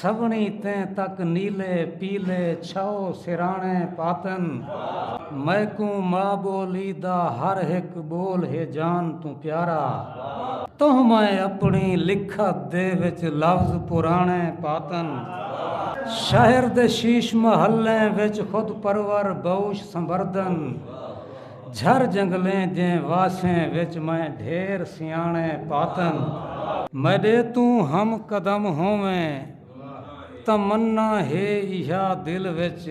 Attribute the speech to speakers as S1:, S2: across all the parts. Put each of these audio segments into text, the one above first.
S1: سوہݨی تیں تک نیلے پیلے چھاؤ سراݨے پاتن میکوں ما ٻولی دا ہر ہک ٻول ہے جان توں پیارا تہوں میں اپݨی لکھت دے وچ لفظ پراݨے پاتن شہر دے شیش محلیں وچ خود پرور بہوش سنبردن جھر جنگلیں جیں واسیں وچ میں ڈھیر سیاݨے پاتن۔ میݙے توں ہم قدم ہوویں تمنا ہے ایہا دل وچ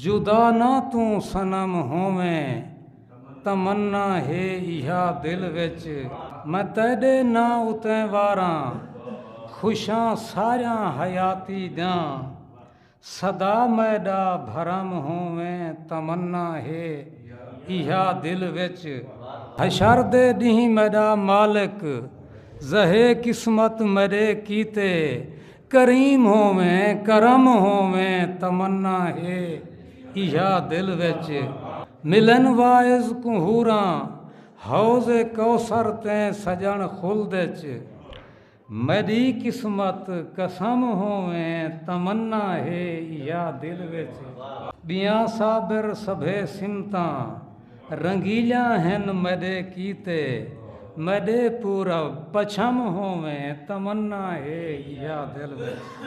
S1: جدا نہ توں صنم ہوویں تمنا ہے ایہا دل وچ میں تیݙے ناں اتے واراں خوشاں ساریاں حیاتی دیاں۔ سدا میڈا بھرم ہوویں تمنا ہے ایہا دل وچ۔ حشر دے ڈینہہ میڈا مالک زہے قسمت میڈے کیتے کریم ہوویں کرم ہوویں تمنا ہے ایہا دل وچ۔ ملن واعظ کوں حوراں حوض کوثر تیں سجن خلد اچ۔ میڈی قسمت قسم ہوویں تمنا ہے یا دل وچ۔ ڈیاں صابر سبھے سمتاں رنگیلیاں ہن میڈے کیتے میڈے پورب پچھم ہوویں تمنا ہے یا دل وچ۔